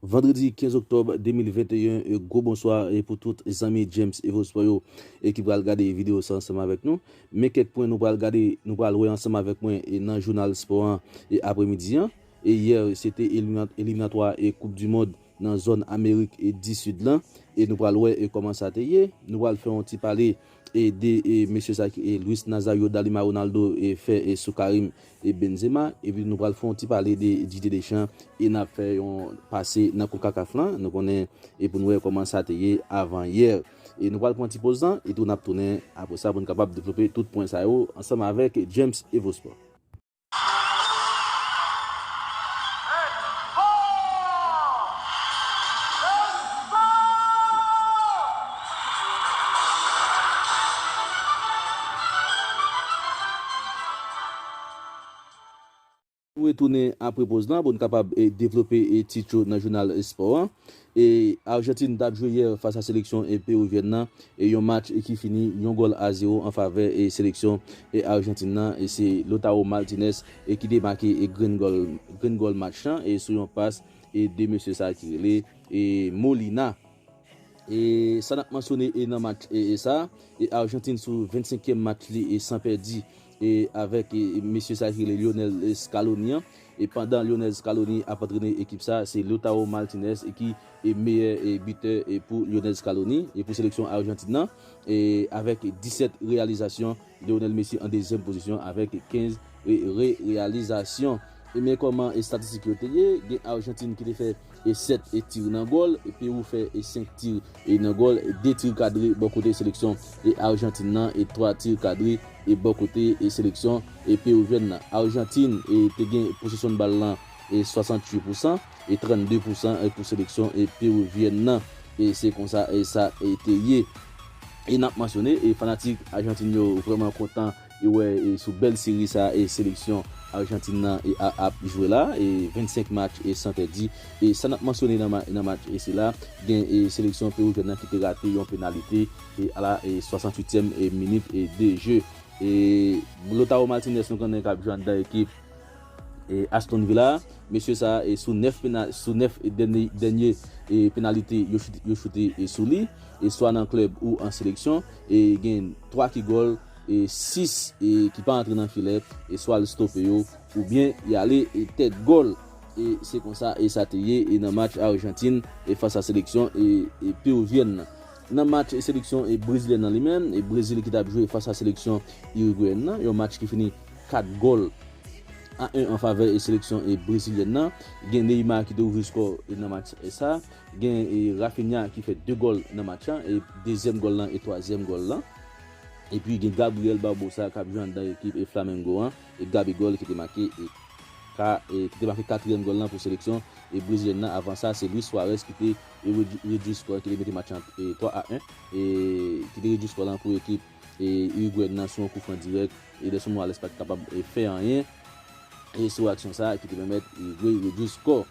Vandredi 15 oktòb 2021 gwo bonswa pou tout zanmi James Evosport yo ki pral gade videyo sa ansanm avèk nou. Men kèk pwen nou pral gade, nou pral wè ansanm avèk mwen nan jounal spò an apremidi an. Yè se te eliminatwa koup di mond nan zòn amerik di sid lan e nou pral wè kòman sa te ye. Nou pral fè yon ti pale e 2 e mesye sa ki e Luis Nazario Dali Maronaldo e fè e sou Karim e Benzema epi nou pral fè yon ti pale de Didier Deschamps e nap fè yon pase nan Concacaf lan nou konnen e pou nou wè kòman sa te ye avan yè e nou pral pran ti poz lan etou nap tounen apresa pou nou kapab devlope tout pwen sa yo ansanm avèk James Evosport. Nou retounen apre poz la pou n kapab devlope tit yo nan jounal espò an. E Argentine tap jwe yè fas a seleksyon e Peruvienne nan e yon match e ki fini yon gòl a 0 an favè e seleksyon e Argentine nan e se Lautaro Martinez e ki te make e grenn gòl grenn gòl match lan e sou yon pas e de mesye sa ki rele e Molina. E sa nap mansyone e nan match e e sa e Argentine sou 25 kièm match li e san pèdi e avèk e mesye sa ki rele Lionel Scaloni an E pandan Lionel Scaloni ap antrene ekip sa, se Lautaro Martinez ki meyè bitè pou Lionel Scaloni e pou seleksyon Arjantin nan. Avèk 17 reyalizasyon, Lionel Messi an dezyèm pozisyon avèk 15 reyalizasyon. Men kòman estatistik yo te ye, gen Arjantin ki te fè 7 tir nan gòl, Pewou fè 5 tir e nan gòl, 2 tir kadre bò kote seleksyon e Arjantin nan e 3 tir kadre e bò kote e seleksyon e Peruvyèn nan. Arjantin e te gen posesyon bal lan e 68 pou san e 32 pou san e pou seleksyon e Peruvyèn nan. E se konsa e sa e te ye. E nap mansyone e fanatik Arjantin yo vrèman kontan e wè sou bèl seri sa e seleksyon Argentine nan e a ap jwe la e 25 match e san pèdi e sa nap mansyone nan ma nan match e sila gen e seleksyon Peruvienne nan ki te rate yon penalite e ala e 68 tièm e minit e de je e Lautaro Martinez nou konnen kap jwe anndan ekip e Aston Villa mesye sa e sou 9 pena sou 9 dène dènye e penalite yo chute yo chute e sou li e swa nan club ou an seleksyon e gen 3 ki gòl. 6 ki pa antre nan filè e swa l stope yo ou byen y ale tèt gòl e se konsa e sa te ye e nan match Arjantin e fas a seleksyon e Peruvyèn nan. Nan match seleksyon e Brezilyèn nan li menm e Brezil ki tap jwe fas a seleksyon Irigweyèn nan yon match ki fini 4 gòl a 1 an favè e seleksyon e Brezilyèn nan gen Neymar ki te ouvri skò e nan match e sa gen e Raphinha ki fè 2 gòl nan match an e dezyèm gòl lan e twazyèm gòl lan. Epi gen Gabriel Barbosa kap jwe anndan ekip e Flamengo an e Gabigol ki te make e ka e ki te make katriyèm gòl lan pou seleksyon e brezilyèn nan avan sa se Luis Suarez ki te e redi redui skò ki te mete match lan e 3 a 1 e ki te redui skò lan pou ekip e irigwèyèn nan sou yon kou fran dirèk Ederson Morales pat kapab e fè anyen e sou aksyon sa ki te pèmèt irigwey redui skò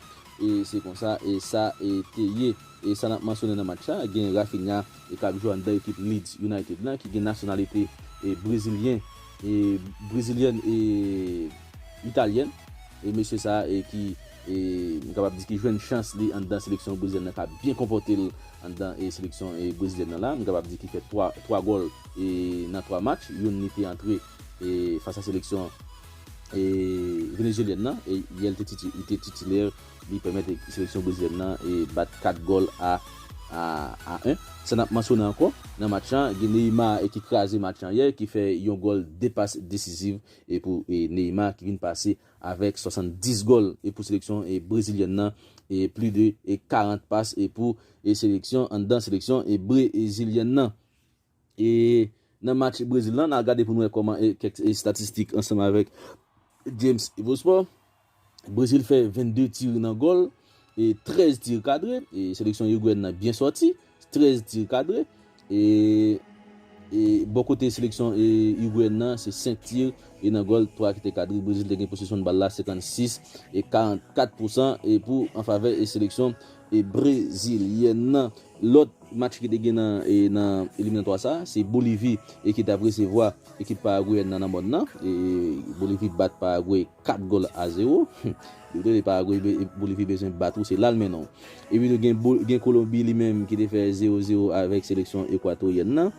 e se konsa e sa e te ye. E sa nap mansyone nan match sa, gen Raphinha e kap jwe anndan ekip Leeds United lan ki gen nasyonalite e brezilyen e brezilyèn e italyèn e mesye sa e ki e m kapab di ki jwenn chans li anndan seleksyon brezilyèn lan kap byen konpòte l anndan e seleksyon e brezilyèn lan la m kapab di ki fè 3 3 gòl e nan 3 match youn li te antre e fas a seleksyon e venezyelyèn lan e yè li te titi li te titilè. Li pèmèt ekip seleksyon brezilyèn nan bat 4 gòl a 1. Sa n ap mansyone ankò nan match la, gen Neymar ki kraze match la yè, ki fè yon gòl, 2 pas desiziv pou Neymar ki vin pase avèk 70 gòl pou seleksyon brezilyèn nan, plis de 40 pas pou seleksyon anndan seleksyon brezilyèn nan. E nan match Brezil lan, n al gade pou n wè kòman e kèk estatistik ansanm avèk James Evosport. Brezil fè 22 tir nan gòl e 13 tir kadre. E seleksyon Irigweyèn nan byen sòti, 13 tir kadre. E e bò kote seleksyon e Irigweyèn nan se 5 tir e nan gòl 3 ki te kadre. Brezil te gen posesyon bal la 56 e 44 pousan e pou an favè e seleksyon e brezilyèn nan. Lòt match ki te gen nan eliminatwa sa, se Bolivi e ki tap resevwa ekip Paragweyèn nan nan mòn nan. Bolivi bat Paragwey 4 gòl a 0. Yo te di Paragwey Bolivi bezwen bat ou se lal mennen w. Epi tou gen Kolonbi li menm ki te fè 0 0 avèk seleksyon Ekwatoriyèn nan.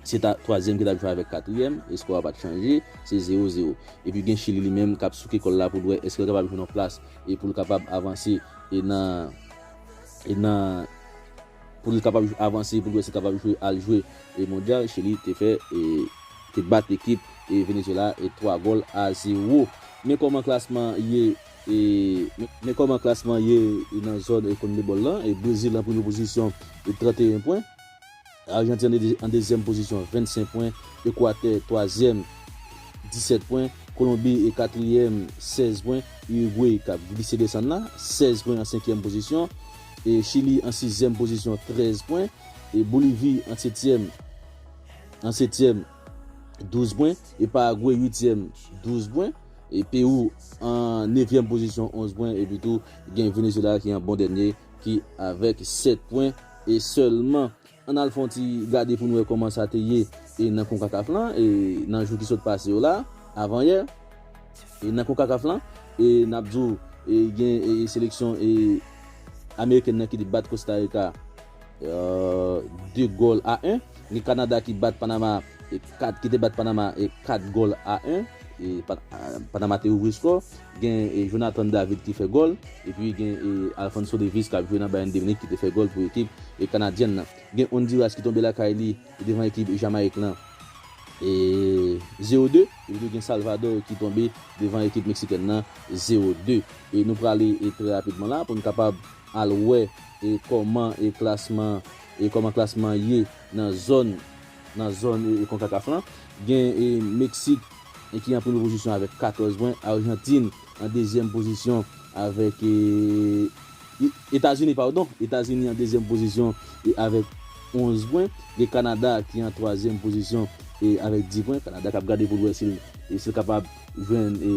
Se ta twazyèm ki tap jwe avèk katriyèm. Eskò a pat chanje, se 0 0. Epi gen Chili li menm kap souke kòl la pou l wè eske l kapab jwenn yon plas e pou l kapab avanse nan. E nan pou li kapab avanse pou Grèsi kapab jwe al jwe mondyal Chili te fè te bat ekip Venezuela 3 gòl a 0. Men kòman klasman ye. Men kòman klasman ye nan zòn Conmebol la, Brezil an premye pozisyon 31 pwen. Arjantin an dezyèm pozisyon 25 pwen, Ekwatè twazyèm 17 pwen, Kolonbi katriyèm 16 pwen, Urugwe k ap glise desann la 16 pwen an senkyèm pozisyon, Chili an sizyèm pozisyon 13 pwen, Bolivi an setyèm an setyèm 12 pwen, Paragwe uityèm 12 pwen, Pewou an nevyèm pozisyon 11 pwen epitou gen Venezuela ki an bon dènye ki avèk 7 pwen e sèlman. Ann al fè yon ti gade pou n wè kòman sa te ye e nan konkakaf lan e nan jou ki sot pase yo la, avanyè, e nan konkakaf lan e n ap di w e gen e seleksyon e amerikèn nan ki te bat Kostarika 2 gòl a 1. Ni Kanada ki bat Panama 4 ki te bat Panama 4 gòl a 1 e Panama te ouvri skò. Gen Jonathan David ki fè gòl epi gen Alfonso Davies kap jwe nan Bayern de Munich ki te fè gòl pou ekip Kanadyèn nan. Gen Ondiras ki tonbe lakay li devan ekip Jamayik lan 0 2 epi tou gen Salvadò ki tonbe devan ekip Meksikèn nan 0 2. E nou prale trè rapidman la poun kapab al wè kòman e klasman E kòman klasman ye nan zòn nan zòn e Concacaf lan, gen e Meksik e ki an premye pozisyon avèk 14 pwen, Arjantin an dezyèm pozisyon avèk e e Etazini padon, Etazini an dezyèm pozisyon e avèk 11 pwen, gen Kanada ki an twazyèm pozisyon e avèk 10 pwen, Kanada kap gade pou l wè si l e si l kapab jwenn e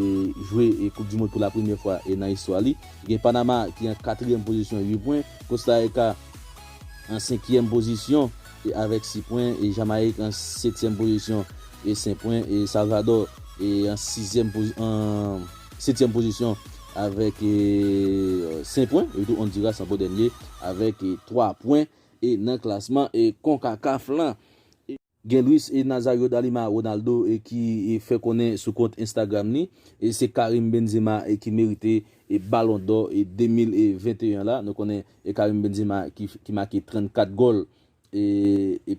jwe e koup di mond pou la premyè fwa e nan istwa li, gen Panama ki an katriyèm pozisyon 8 pwen, Kosta Rika. an senkyèm pozisyon e avèk 6 pwen, e Jamayik an setyèm pozisyon e 5 pwen, e Salvadò an sizyèm pozi an setyèm pozisyon avèk 5 pwen, epitou Ondiras an bon dènye avèk 3 pwen e nan klasman e Konkakaf lan. Gen Luis Nazario da Lima Ronaldo ki fè konnen sou kont Instagram li se Karim Benzema ki merite balon dò 2021 la. Nou konnen Karim Benzema ki make 34 gòl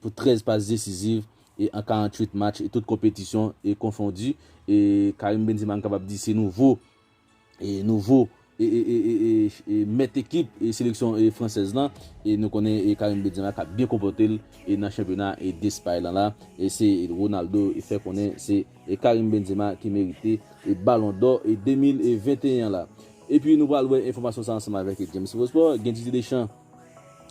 pou 13 pas desiziv an 48 match tout konpetisyon konfondi. Karim Benzema m kapab di se nouvo. Nouvo mèt ekip seleksyon fransèz lan, nou konnen Karim Benzema kap byen konpòte l nan chanpyona Despay lan la, se Ronaldo fè konnen se Karim Benzema ki merite balon dò 2021 an la. Epi nou pral wè enfòmasyon sa ansanm avèk James Prosper, gen Didier Deschamps.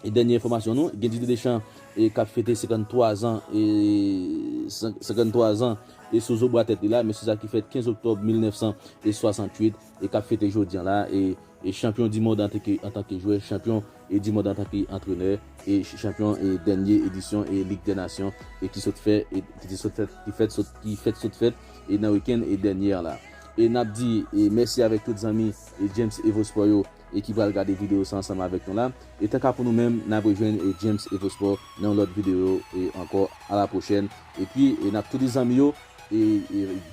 E dènye enfòmasyon nou, gen Didier Deschamps e kap fete 53 zan e 53 zan e sou zo bwa tèt li la, mesye sa ki fèt 15 oktòb 1968 e kap fete jodi an la e e chanpyon di mond antanke jwè, chanpyon e di mond antanke antrenè e chanpyon e dènye edisyon e lig dè nasyon e ki sot fè e ki te sot fèt ki fèt sot ki fèt sot fèt e nan wikenn e dènye an la. E nap di e mèsi avèk tout zanmi e James Evo Sport yo. e ki pral gade video sa ansanm avèk nou la e tanka pou nou menm nap rejwenn James Evosport nan yon lòt video ankò a la pwochèn epi nap tou di zanmi yo e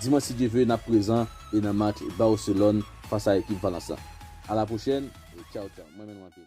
dimanch si Dye ve nap prezan e nan match Barcelone fas a ekip Valence la a la pwochèn tchaw tchaw mrenmen nou anpil.